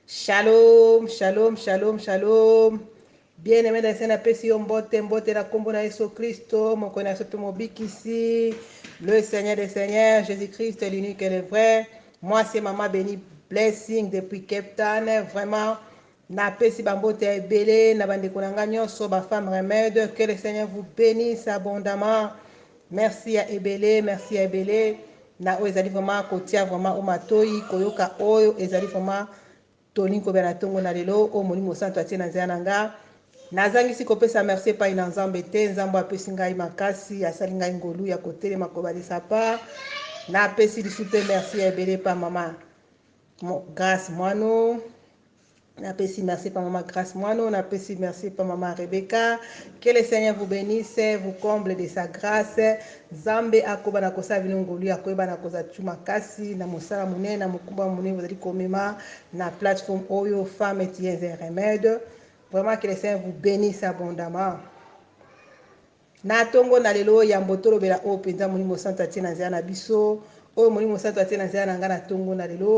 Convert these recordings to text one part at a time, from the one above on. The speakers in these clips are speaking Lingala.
Shalom, shalom, shalom, shalom. Bien aimé dans na pesi yo mbote mbote na kombo na Yesu Kristo moko na sope mobikisi le Seigneur des Seigneurs Jésus Christ l'unique et le vrai moi c'est maman Béni Blessing depuis Cape Town vraiment na pesi ba mbote ya ebele na bandeko na nga nyonso ba femmes remède que le Seigneur vous bénisse abondamment Merci ya ebele merci ya ebele na oyo ezali vraiment kotia vraiment o matoyi koyoka oyo ezali vraiment tolingi kobela na ntongo na lelo oyo molimo mosantu atie na nzela na nga nazangisi kopesa merci epai na nzambe te nzambe apesi ngai makasi asali ngai ngolu ya kotelema kobalisa pa napesi lisu mpe merci ya ebele epa mama grace mwano Na pesi merci pa mama grace mwano na pesi merci pa mama Rebecca que le seigneur vous benisse vous comble de sa grace nzambe akoba na kosala bino ngolu ya koyeba na koza tu makasi na mosala monene na mokumba monene bozali komema na plateforme oyo femme et un remède vraiment que le seigneur vous benisse abondamment Na tongo na lelo oyo yambo tolobela oyo penza Molimo Mosantu atie na nzela na biso, oyo Molimo Mosantu atie na nzela na nga na tongo na lelo,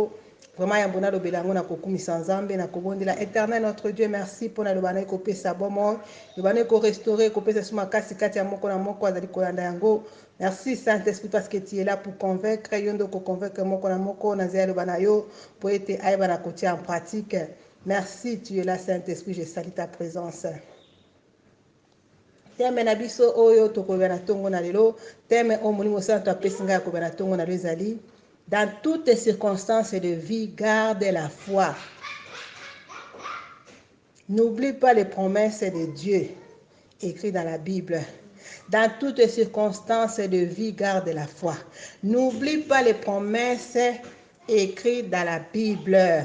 vraiment yambo nalobela yango na kokumisa Nzambe, na kobondela Eternel notre Dieu merci pona liloba naye kopesa bomoi, liloba naye ko restaurer, kopesa biso makasi kati ya moko na moko azali kolanda yango. Merci Saint Esprit parce que tu es là pour convaincre, yo nde oko convaincre moko na moko na nzela ya liloba na yo po ete ayeba na kotia en pratique. Merci, tu es là Saint Esprit, je salue ta presence. Teme na biso oyo tokolobela na ntongo na lelo, teme oyo Molimo Santu apesi ngai ya kolobela na ntongo na lelo ezali Dans toutes circonstances de vie, garde la foi. N'oublie pas les promesses de Dieu écrites dans la Bible. Dans toutes circonstances de vie, garde la foi. N'oublie pas les promesses écrites dans la Bible.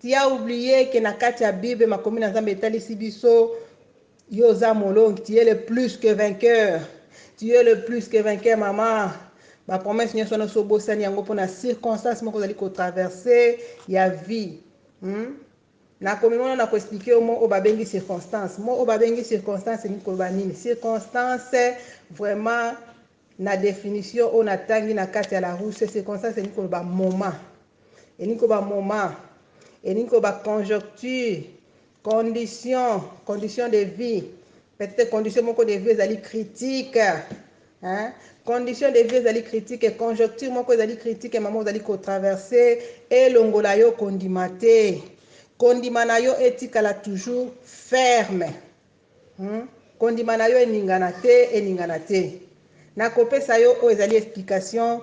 Tu as oublie que na kati ya bible makomi na nzambe etalisi biso yo oza molongi tu es le plus que vainqueur tu es le plus que vainqueur mama ba promesse nyonso wana osi obosani yango mpo na circonstance moko ozali kotraverse ya vie hmm? nakomimona na koexplike yo mo oyo babengi circonstance mo oyo babengi circonstance elingi koloba nini circonstance vraiment Na definition oyo natangi na kati ya Larousse, circonstance elingi koloba moment, elingi koloba moment, elingi koloba conjocture, condition, condition de vie, peut-être condition moko de vie ezali critique, hein? condition de vie ezali critique, conjocture moko ezali critique, mama ozali kotraverse, elongola yo kondima te, kondima na yo etikala toujours ferme. Hum kondima na yo eningana te eningana te na kopesa yo oyo ezali explication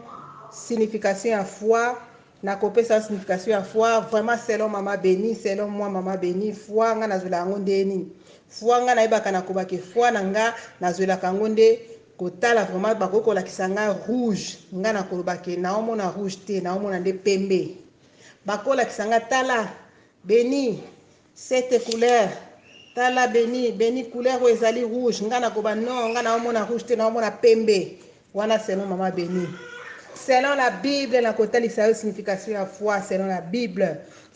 signification ya foi na kopesa yo signification ya foi vraiment selon mama beni selon moi mama beni foi nga nazwela yango nde nini foi nga nayebaka na kobake foi na nga nazwelaka yango nde kotala vraiment bakoki kolakisa nga rouge nga na koloba ke naomona rouge te naomona nde pembe bakolakisa nga tala beni Cette couleur tala beni beni couleur oyo ezali rouge nga nakoba non nga naomona rouge te naomona pembe wana selon mama beni selon la bible nakotalisa yo signification ya foi selon la bible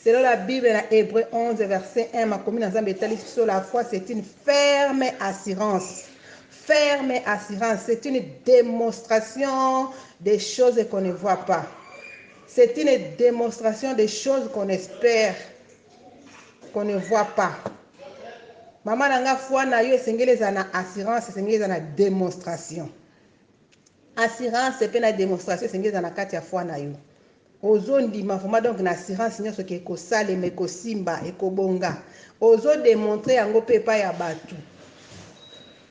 selon la bible na hébreu 11 verset 1 makomi na nzambe etalisi biso la foi c'est une ferme assurance ferme assurance c'est une démonstration des choses qu'on ne voit pas c'est une démonstration des choses qu'on espère qu'on ne voit pas mama na nga foi na yo esengeli ezala na assurance esengeli ezala na demonstration assurance mpe na demonstration esengeli ezala na kati ya foi na yo ozondima vraiment donc na assurance nyonso ke ekosalema ekosimba ekobonga ozodemontre yango mpe epai ya bato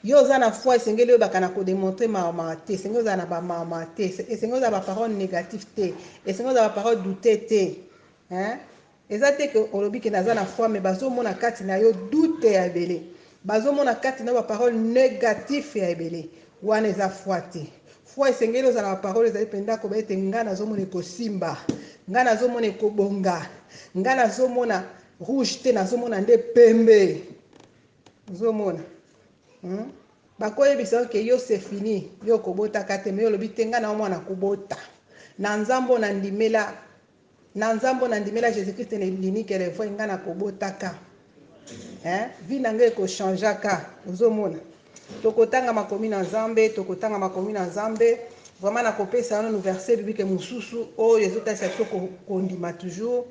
yo oza na foi esengeli oyebaka na kodemontre mawa te esengeli ozala na bamawa te esengeli ozala baparole négative te esengeli ozala baparole doute te hein? Eza te que olobi que naza na foi mais bazo mona kati na yo doute ya ebele. Bazo mona kati na yo ba parole negatif ya ebele. Wana eza foi te. Foi esengeli ozala na ba parole ezali penda koba ete nga nazo mona ekosimba. Nga nazo mona ekobonga. Nga nazo mona rouge te nazo mona nde pembe. Ozo mona? Hmm? Bako yebisa yo que yo c'est fini. Yo okobota ka te mais olobi te nga na mwana kobota. Na nzambo na ndimela Na nzambo na ndimela jesus christ na elimi qu'elle est vraie nga na ko bota ka hein vie na nga eko changea ka ozo mona toko tanga makomi na nzambe toko tanga makomi na nzambe vraiment na ko pesa yo nanu verset biblique mususu oyo ezo talisa biso ko kondima toujours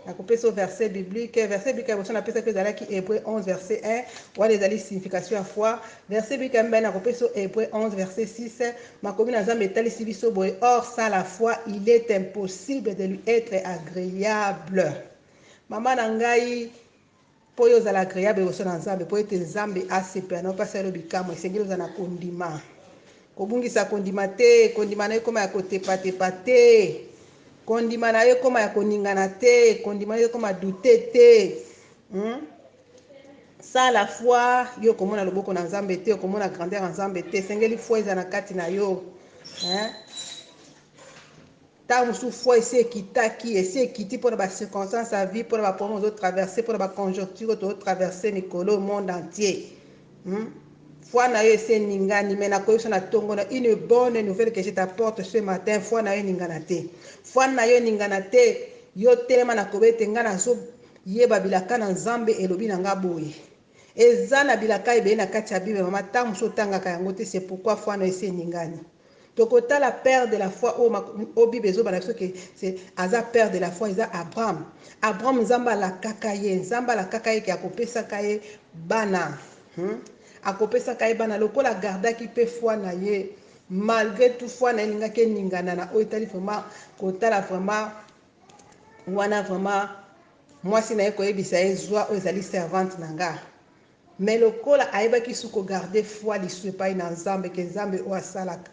na ko pesa yo verset biblique verset biblique ya boso na pesaki ezalaki Hebreu 11 verset 1 wana ezali signification ya foi Verse bika mibale na kopesa yo Hebreu 11 verse 6 makomi na Nzambe etalisi biso boye or sans la foi il est impossible de lui etre agreable mama na ngai mpo yo ozala agreable liboso na Nzambe mpo ete Nzambe asepela na opesa yo bikamwa esengeli ozala na kondima kobungisa kondima te kondima na ekoma ya kotepatepa te kondima na yo ekoma ya koningana te kondima na yo ekoma dute te hmm? Sans la foi yo okomona loboko na nzambe te okomona grandeur ya nzambe te esengeli foi ezala na kati na yo hein? ntango mosusu foi esi ekitaki esi ekiti mpo na bacirconstance ya vie mpo na baproblème ozotraverse mpo na baconjoncture tozotraverse mikolo oyo monde entier hmm? foi na yo esi eningani mai nakoyebisa na ntongo na une bonne nouvelle que je t'apporte ce matin foi na yo eningana te foi na yo eningana te yo telema nakoba ete ngai nazo Yeba bilaka na Nzambe elobi na nga boye eza na bilaka ebele na kati ya bible mama tango mosusu otangaka yango te c'est pourquoi foi no esi eningani toko tala père de la foi oyo o bible ezoba na biso ke aza père de la foi eza Abraham Abraham Nzambe alakaka ye Nzambe alakaka ye ke akopesaka ye bana hmm? akopesaka ye bana lokola agardaki pe foi na ye malgré tout foi na ye elingaki eningana na oyo etali vraiment kotala vraiment wana vraiment mwasi na ye koyebisa ye zwa oyo ezali servante na nga me lokola ayebaki su kogarde foi lisu epai na nzambe ke nzambe oyo asalaka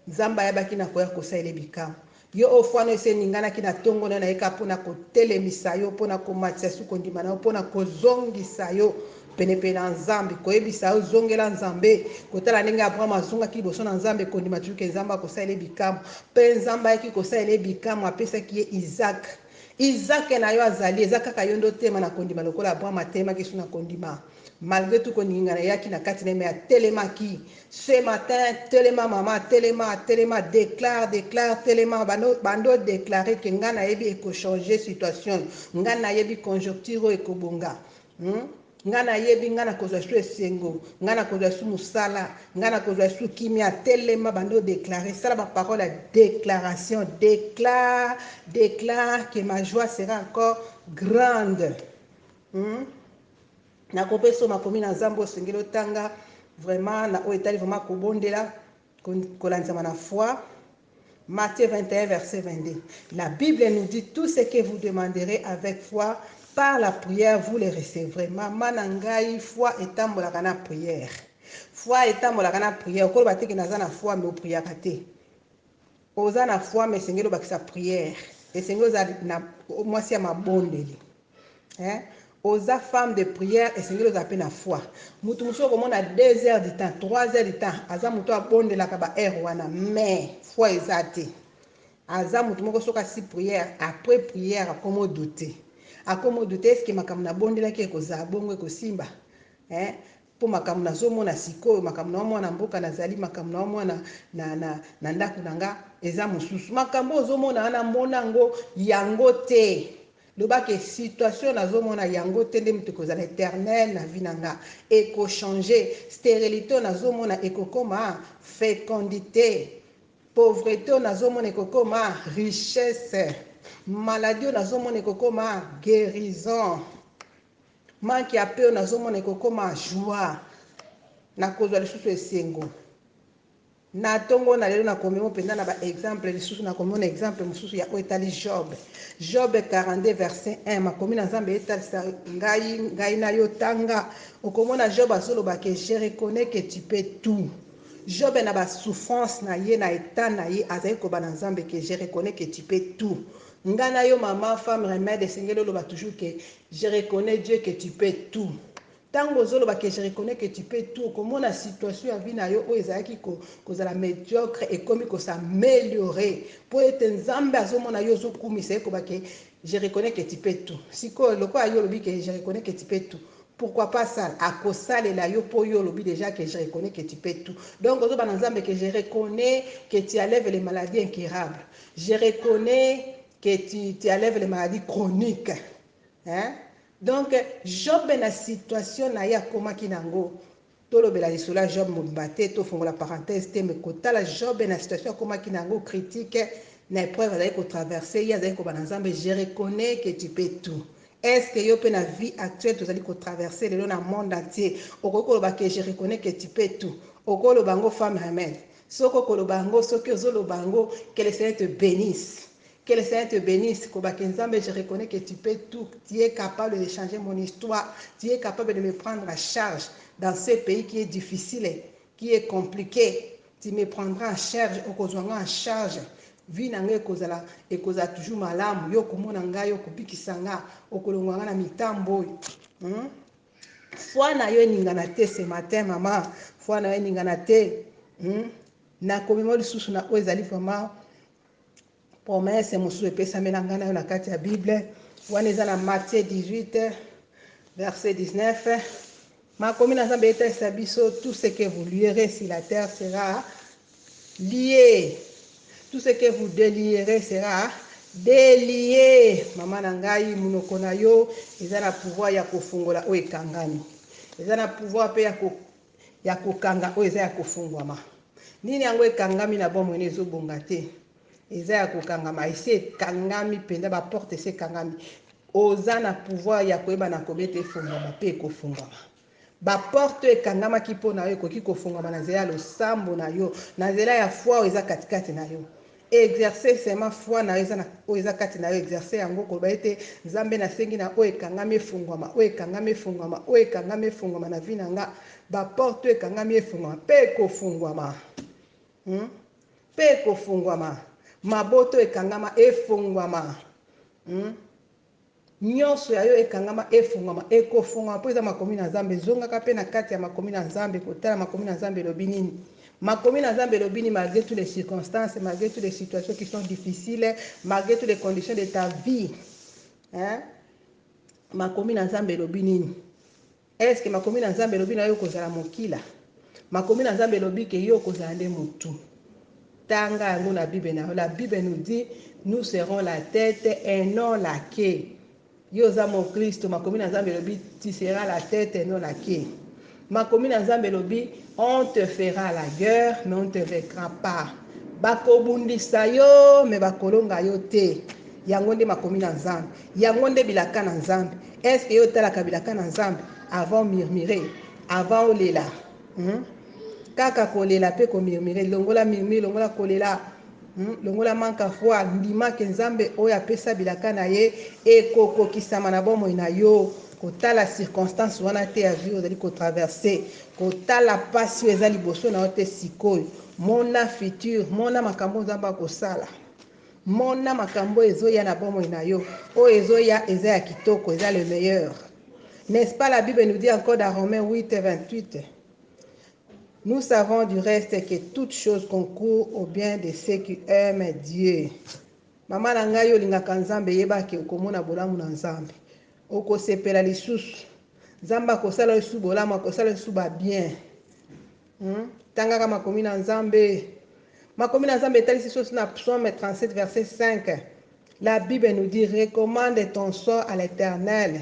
nzambe ayebaki na koya kosala ye bikamwa yo oyo fwano esi eninganaki na ntongo na yo na ye kaka mpo na kotelemisa yo mpo na komatisa su kondima na yo mpo na kozongisa yo Penepene na Nzambe, koyebisa yo zongela Nzambe, kotala ndenge Abraham azongaki liboso na Nzambe, kondima toujours ke Nzambe akosalela ye bikamwa. Pe Nzambe ayaki kosalela ye bikamwa, apesaki ye Isaac. Isaac na yo azali, eza kaka yo nde otelema na kondima lokola Abraham atelemaki sur na kondima. Malgre tout koningingana eyaki na kati na ye mais atelemaki. Ce matin, telema mama, telema, telema, declare, declare, telema, banda, banda o declarer ke nga nayebi eko changer situation, nga nayebi conjoncture oyo ekobonga. Hum nga na yebi nga na kozwa su esengo nga na kozwa su musala nga na kozwa su kimia telema banda o declare sala ba parole ya declaration declare declare que ma joie sera encore grande hum na kopesa makomi na zambe osengeli otanga vraiment na oyo etali vraiment kobondela Kolandisama na foi. Matthieu 21, verset 22. La Bible nous dit tout ce que vous demanderez avec foi par la prière vous le recevrez. Mama na ngai foi etambolaka na prière. Foi etambolaka na prière. Okoloba te ke naza na foi mais opriaka te. Oza na foi mais esengeli obakisa prière. Esengeli oza na mwasi ya mabondeli. Hein oza femme de prière esengeli ozala pe na foi mutu mususu okomona deux heures du temps trois heures du temps aza mutu oyo abondelaka ba heure wana mais foi eza te aza mutu moko soki asi prière après prière akomo doute akomo doute est ce que makambo nabondelaki ekozala bongo ekosimba hein Po makambo nazo mona sikoyo, makambo na yo mwana mboka na zali, makambo na yo mwana na, na, na ndako na nga eza mosusu. Makambo oyo ozo mona wana mona ango yango te. Loba ke situation nazo mona yango te nde moto ekozala eternel na vie na nga. Eko changer. Sterilite oyo nazo mona ekokoma fecondite. Pauvrete oyo nazo mona ekokoma richesse. Maladie oyo nazo mona ekokoma guerison. Manque ya peu nazomona ekokoma joie nakozwa lisusu esengo na ntongo na lelo nakomi mo mpenza na baexemple lisusu nakomona exemple mosusu ya oyo etali job job 42 verset 1 makomi na nzambe etalisa ngai ngai na yo tanga okomona job azoloba ke je reconnais que tu peux tout job na basouffrance na ye na etat na ye azali koba na nzambe ke je reconnais que tu peux tout Nga na yo maman femme remède esengeli oloba toujours que je reconnais Dieu que tu peux tout tangu ozo loba que je reconnais que tu peux tout okomona situation ya vie na yo oyo ezalaki ko kozala mediocre ekomi ko s'ameliorer po ete nzambe azo mona yo ozo kumisa ye koba que je reconnais que tu peux tout sikoyo lokola yo olobi que je reconnais que tu peux tout pourquoi pas ça ako salela yo po yo olobi dejà que je reconnais que tu peux tout donc ozo loba na nzambe que je reconnais que tu enlèves les maladies incurables Je reconnais que tu, tu enlèves les maladies chroniques. Hein? Donc, Job na situation na ye akomaki nango. Tolobela lisolo ya Job mobimba te, tofongola parenthèse te, mais kotala Job na situation akomaki nango critique, na épreuve azali ko traverser, ye azali kobana Nzambe, je reconnais que tu peux tout. Est-ce que yo pe na vie actuelle tozali ko traverser lelo na monde entier, okoki koloba que je reconnais que tu peux tout? Okoloba ngo femme remède? Soki okoloba yango soki ozo loba yango que le seigneur te benisse que le seigneur te benisse koba que nzambe je reconnais que tu peux tout tu es capable de changer mon histoire tu es capable de me prendre en charge dans ce pays qui est difficile qui est complique tu me prendras en charge okozwa nga en charge vie na nga ekozala ekozala toujours malamu yo okomona ngai okobikisa nga okolongwa nga na mitambo oyo hmm? Foi na yo eningana te ce matin mama, foi na yo eningana te hmm? na komema lisusu na oyo ezali vraiment promesse mosusu epesamela ngai na yo na kati ya bible wana eza na matthieu 18 verset 19 makomi na nzambe etalisa biso tout ce que vous lierez sur la terre sera Lier tout ce que vous delieres sera delier maman na ngai munoko na yo eza na pouvoir ya kofungola oyo ekangami eza na pouvoir pe ya ko ya kokanga oyo eza ya kofungwama nini yango ekangami na bomoi na ezobonga te eza ya kokangama esi ekangami mpenza baporte esi ekangami oza na pouvoir ya koyeba na kobete efungwama mpe ekofungwama Baporte oyo ekangamaki mpo na yo ekoki kofungwama na nzela ya losambo na yo, na nzela ya foi oyo eza katikati na yo. Exercer seulement foi na yo eza na oyo eza kati na yo, exercer yango, koloba ete, Nzambe, nasengi na oyo ekangami efungwama, oyo ekangami efungwama, oyo ekangami efungwama na vie na nga. Baporte oyo ekangami efungwama mpe ekofungwama. Hmm? Mpe ekofungwama. Mabota oyo ekangama efungwama. Hmm? Nionso ya yo ekangama efungwama, ekofungwama mpo eza makomi na Nzambe. Zongaka mpe na kati ya makomi na Nzambe, kotala makomi na Nzambe elobi nini. Makomi na Nzambe elobi nini malgre tout les circonstances, malgre tout les situations qui sont difficiles, malgre tout les conditions de ta vie hein? Makomi na Nzambe elobi nini? Est ce que makomi na Nzambe elobi nayo okozala mokila? Makomi na Nzambe elobi que yo okozala nde mutu. Tanga yango na bible na yo. La bible nous dit nous serons la tete et non la queue. Yo oza moklisto, makomi na Nzambe elobi tu seras la tete et non la queue. Makomi na Nzambe elobi on te fera la guerre mais on te vaincra pas. Bakobundisa yo mais bakolonga yo te. Yango nde makomi na Nzambe. Yango nde bilaka na Nzambe. Est ce que yo otalaka bilaka na Nzambe avant murmure avant olela hmm? kaka kolela pe ko murmure longola murmure longola kolela Hmm, longola manka foi ndima ke nzambe oyo apesa bilaka na ye ekokokisama na bomoi na yo kotala circonstance wana te ya vie ozali kotraverse kotala mpasi oyo eza liboso na yo te sikoyo mona future mona makambo nzambe akosala Mona makambo oyo ezoya na bomoi na yo. Oyo ezoya eza ya kitoko, eza le meilleur. N'est-ce pas la Bible nous dit encore dans Romains 8 et 28 Nous savons du reste que toutes choses concourent au bien de ceux qui aiment Dieu. Mama na ngai olingaka Nzambe yeba ke okomona bolamu na Nzambe. Okosepela lisusu. Nzambe akosala yo lisusu bolamu, akosala yo lisusu ba bien. Hum tangaka makomi na Nzambe. Makomi na Nzambe etalisi sosi na Psaume 37 verset 5. La Bible nous dit recommande ton sort à l'Eternel.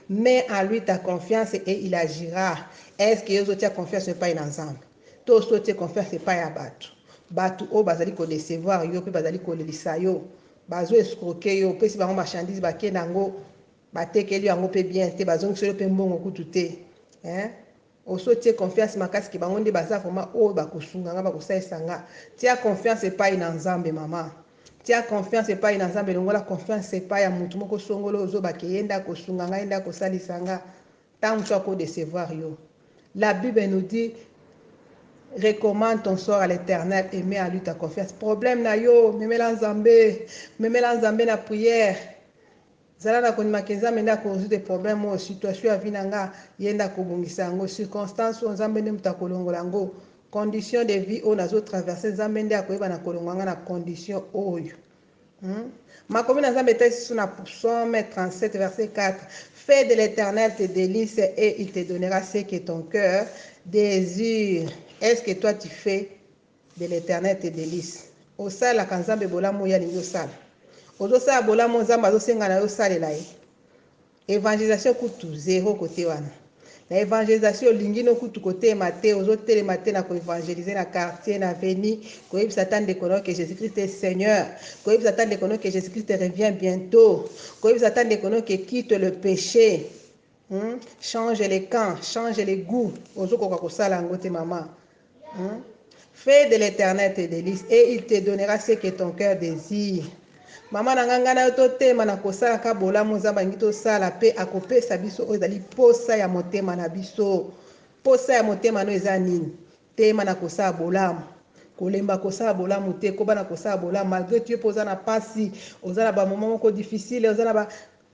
Mets en lui ta confiance et il agira. Est-ce que ozo tia confiance epai na Nzambe? To osi otie confiance epai ya bato? Bato oyo bazali ko decevoir yo pe bazali kolelisa yo. Bazo escroquer yo, opesi bango marchandise bake nango, batekeli yo yango pe bien te, bazongiseli yo pe mbongo kutu te. Hein? Osi otie confiance makasi ke bango nde baza vraiment oyo bakosunga nga bakosalisa nga tia confiance epayi na nzambe maman tia confiance epayi na nzambe longola confiance epayi ya mutu moko songolo oyo zoba ke ye nde akosunga nga ye nde akosalisa nga tango mosusu ako decevoir yo la bible nous dit recommande ton sort à l'eternel et met en lui ta confiance problème na yo memela nzambe memela nzambe na prière Zala na kondima ke Nzambe nde ako resoudre problème oyo, situation ya vie na nga ye nde ako bongisa yango, circonstance oyo Nzambe nde moto ako longola yango, condition de vie oyo nazo traverser Nzambe nde ako yeba na ko longwa nga na condition oyo Hum makomi na Nzambe epesi sous na psaume 37 verset 4 fais de l'Eternel tes delices et il te donnera ce que ton cœur desire est ce que toi tu fais de l'eternel te belise osalelaka nzambe bolamu oyo alingi osala ozosala bolamu nzambe azosenga na yo osalela ye evangelisation kutu zero kote wana na evangelisation olingi no kutu kotelema te ozotelema te na koevangelise na quartier na veni koyebisa ata ndeko na yo ke jesus christ est seigneur koyebisa ata ndeko na yo ke jesus christ revient bientôt koyebisa ata ndeko na yo ke quitte le péché Hum change le camp, change le gout. Ozo koka kosala yango te mama. Hum Fais de l'Éternel tes délices et il te donnera ce que ton cœur désire. Mama na nga nga na yo totema na kosala ka bolamu Nzambe alingi tosala mpe akopesa biso oyo ezali posa ya motema na biso. Posa ya motema no eza nini? Tema na kosala bolamu. Kolemba kosala bolamu te, koba na kosala bolamu malgré tu es mpe oza na pasi, oza na ba moment moko difficile, oza na ba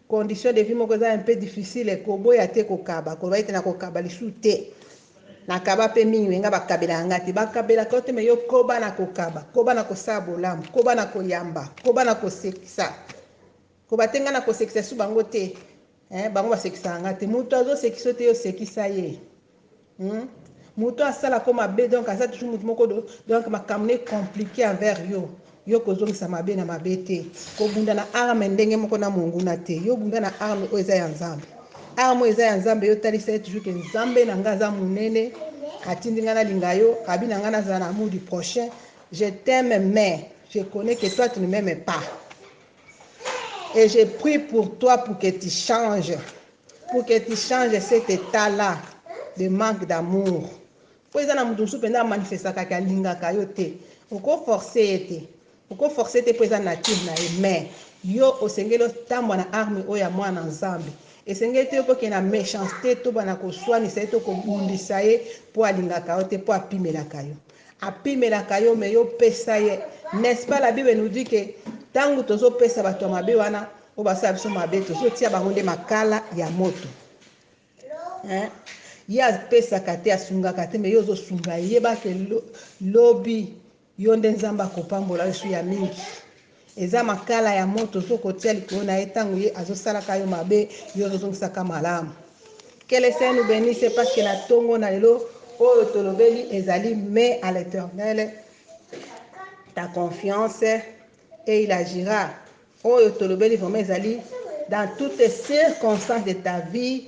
condition de vie moko eza un peu difficile koboya te kokaba koloba ete nakokaba lisusu te nakaba pe mingi me nga bakabelaka nga te bakabelaka yo te me yo koba na kokaba koba na kosala bolamu koba na koyamba koba na kosekisa koba te nga na kosekisa su bango te eh, bango basekisaka nga te moto azosekisa yo te yo sekisa ye Hum mutu asala ko mabe donc aza toujours mutu moko do donc makambo ne complique envers yo yo kozongisa mabe na mabe te kobunda na arme ndenge moko na monguna te yo bunda na arme oyo eza ya nzambe arme oyo eza ya nzambe yo talisa ye toujours ke nzambe na nga aza monene atindi nga nalinga yo abi na nga nazala na amour du prochain je t'aime mais je connais que toi tu ne m'aimes pas et je prie pour toi pour que tu change pour que tu change cet etat là de manque d'amour po eza na moto mosusu mpenza amanifestaka ke alingaka yo te oko force ye te oko force te mpo eza nature na ye mais yo osengeli otambwa na arme oyo ya mwana na nzambe esengeli te yo kokende na méchanceté tobana koswanisa ye to kobundisa ye mpo alingaka yo te mpo apimelaka yo Apimelaka yo mais yo pesa ye n'est ce pas la bible nous dit que tangu tozo pesa batu ya mabe wana oyo basala biso mabe tozo tia bango nde makala ya moto hein? ye apesaka te asungaka te mais yo ozo sunga ye yeba ke lobi yo nde nzambe akopambola yo su ya mingi Eza makala ya moto soki okotia likolo na ye tango ye azo salaka yo mabe yo ozo zongisa ka malamu. Que le Seigneur nous benisse parce que na tongo na lelo oyo tolobeli ezali mais à l'Eternel ta confiance et il agira. Oyo tolobeli vraiment ezali dans toutes circonstances de ta vie